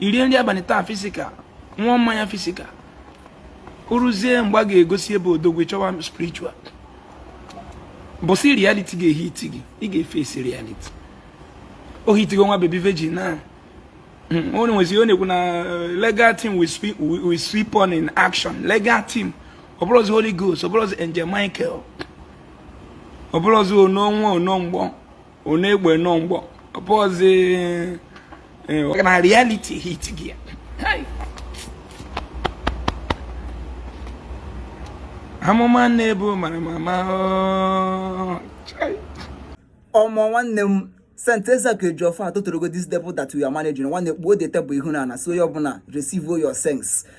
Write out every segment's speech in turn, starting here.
i rie nri abalị taa physical ṅụa mmanya physical o ruzie mgbe a ga-egosi ebe odogwu chọwa spiritual mbọsị reality ga-ehiti gị ị ga-efesi reality o hitigo nwa baby virgin now hmm, o nwezi onye ekwu na eh, legal team will sweep on in action legal team ọ bụrụzi holy ghost ọ bụrụzi angel michael ọ bụrụzi ono nwe ono mgbọ ono egbe noo mgbọ ụbọsị eh, na reality hit gị amụma na-ebu mara mama oh, ọmọ nwanne m Saint Ezeaku Ejiọfọ atụtụrụgo this table that we are managing nwanne kpuo the table ihu n'ana so onye ọbụla receive your sense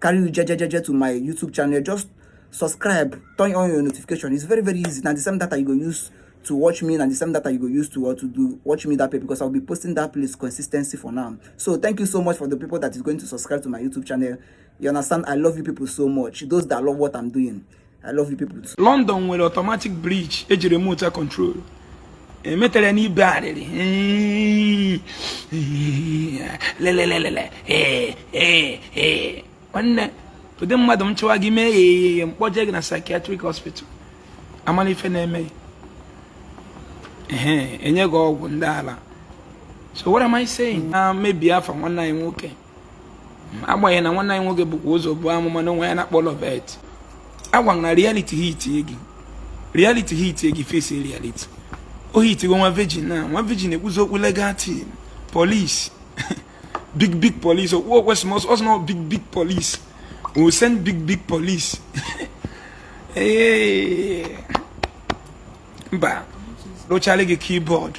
carry you jejejeje to my youtube channel just subscribe turn on your notification it's very very easy na the same data you go use to watch me na the same data you go use to or to do watch me that way because i'll be posting that place consistency for now so thank you so much for the people that is going to subscribe to my youtube channel you understand i love you people so much those that love what i'm doing I love you people too. London nwere automatic bridge e ji remote control emetara ya n'ibe arịrị lelelelele nwanne ụdị mmadụ m chọwa gị mee ya eyeye m kpọje gị na psychiatric hospital a mala ife na-eme e nye gị ọgwụ ndị ala so what am I saying na-emebi afa nwanne anyị nwoke agbanyeghị na nwanne anyị nwoke bukwa ụzọ buo amụma na onwe ya na-akpọ Loveth a gwa gị na reality hit gị reality hit gị face reality o hitigo nwa virgin now nwa virgin ekwuzi okwu legal team police big big police okwu okwe small small small big big police o send big big police mba lụchala gị keyboard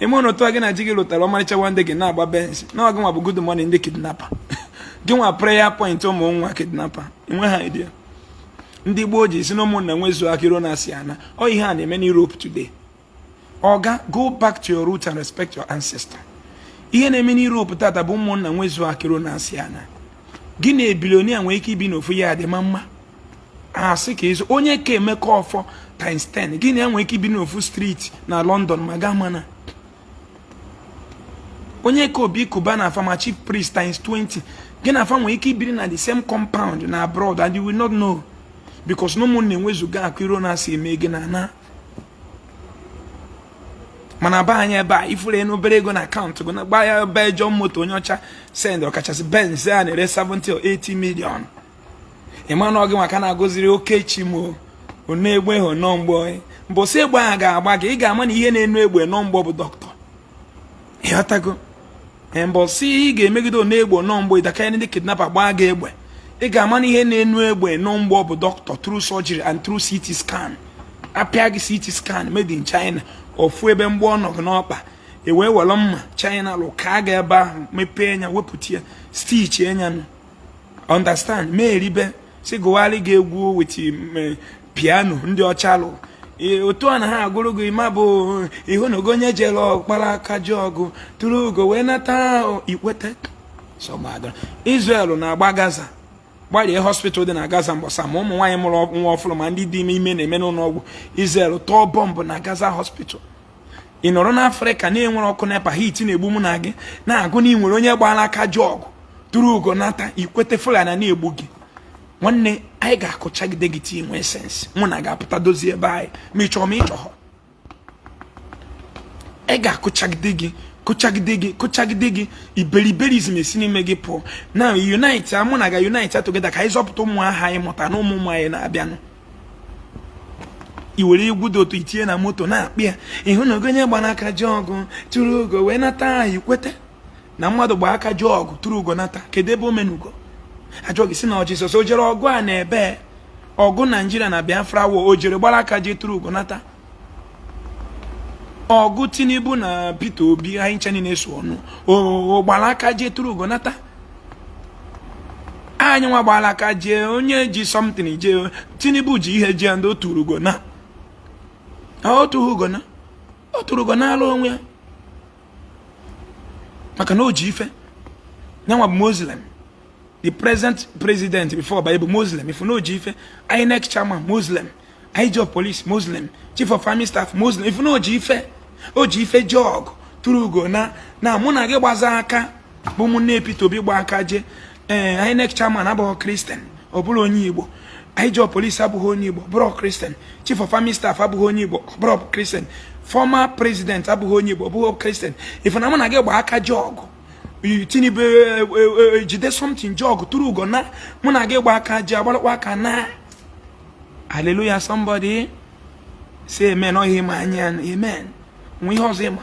ime ụlọ otu a gị na ji gị lụtara ọmarịcha nwanyị gị na-agba benz na ọ gị nwa bụ good morning ndị kidnapper gị nwa prayer point ụmụ nwa kidnapper enwe ha idea ndị gboo ji sị na ụmụnna nwezuo akụ iro na asị anaa ọ ihe a na-eme na Europe today oga go back to your root and respect your ancestor ihe na-eme na Europe tata bụ ụmụnna nwezuo akụ iro na asị anaa gị na a billionaire nwee ike ibi n'ofu ya dị ma mma a sị ka ịzụ onye ka Emeka Offor times 10 gị na ya nwee ike ibi n'ofu street na london ma ị ga-amana onye ka Obi Cubana fa ma chief priest times 20 gị na fa nwee ike ibiri na the same compound na abroad and you will not know because na ụmụnna enwezugo akụ iro na asị emee gịnị anaa mana be anyị ebe a ị furu ya n'obere ego na account gị na-agba Belgium moto onye ọcha send ọkachasị benz a na-ere 70 or 80 million ị manụ ọ gị maka na a goziri oke chi mọ ono egbe ahụ noo mgbọ mbọsị egbe ahụ ga-agba gị ị ga-ama na ihe na-eno egbe noo mgbọ bụ doctor ị ghọtago mbọsị ị ga-emegide ono egbe noo mgbọ ị da aka ndị kidnapper gbaa gị egbe ị ga-ama na ihe na-eno egbe noo mgbọ bụ doctor through surgery and through CT scan a pịa gị CT scan made in China ọ fụ ebe mgbọ ọ nọ gị n'ọkpa e wee were mma china lụ kaa gị ebe ahụ mepee nya wepụta ya stitch nya nụ understand me eribe si gụwalị gị egwu with eh, piano ndị ọcha lụ eh, otu a na ha agụrụ gị ma bụ eh, ị hụnụgo onye jere ọ gbara aka je ọgụ tụrụ ugo wee nata i kwete Israel na-agba Gaza gbarie hospital dị na Gaza mgbasa ma ụmụ nwaanyị mụrụ nwa ọfụrụ ma ndị dị ime ime na-eme n'ụlọ ọgwụ Israel tụọ bọmbụ na Gaza hospital ị nọrọ n'afrịka na enwerọ ọkụ nepa heat na-egbu mụ na gị na-agụ na ị nwere onye gbara aka je ọgụ tụrụ ugo nata i kwete fulani na-egbu gị nwanne anyị ga-akụchagide gị till i nwee sense mụ na gị apụta dozie ebe anyị ma ị chọrọ ma ị chọrọ anyị ga-akụchagide gị kụchagide gị kụchagide gị iberiberism esi n'ime gị pụọ na unite mụ na gị a unite together ka anyị zọpụta ụmụaka anyị mụta na ụmụ ụmụ anyị na-abịanụ i were egwu dị otu a tinye na moto na-akpị ya ị hụnụgo onye gbara aka je ọgụ tụrụ ugo wee nata aha i kweta na mmadụ gbara aka je ọgụ tụrụ ugo nata kedu ebe o menugo a jụọ gị ị sị na ọ jizọs o jere ọgụ a na ebe ọgụ naijiria na biafra war o jere gbara aka je tụrụ ugo nata ọgụ tinubu na peter obi anyị ncha niile so ọnụ o gbara aka jee tụrụ ugo nata anyị nwa gbara aka jee onye ji something jee tinubu ji ihe jee ndị ọ tụrụ ugo naa ọ tụrụ ugo naa ọ tụrụ ugo naalụ onwe ya maka na o ji ife nya nwa bụ muslim the present president before by bụ muslim ị fụ na o ji ife inec chairman muslim ig of police muslim chief of army staff muslim ị fụ na o ji ife o ji ife je ọgụ tụrụ ugo naa na mụ na gị gbaza aka bụ ụmụnne Peter Obi gba aka je ee eh, inec chairman abụghị kristian ọ bụrọ onye igbo ig of police abụghị onye igbo bụrụ kristian chief of army staff abụghị onye igbo bụrụ kristian former president abụghị onye igbo bụghị kristian ị fụ na mụ na gị gba aka je ọgụ Tinubu ejide e, e, e, something je ọgụ tụrụ ugo naa mụ na gị gba aka je agbalụkwa aka naa hallelujah somebody say amen ọ ihe ị ma anya amen o nwe ihe ọzọ ị ma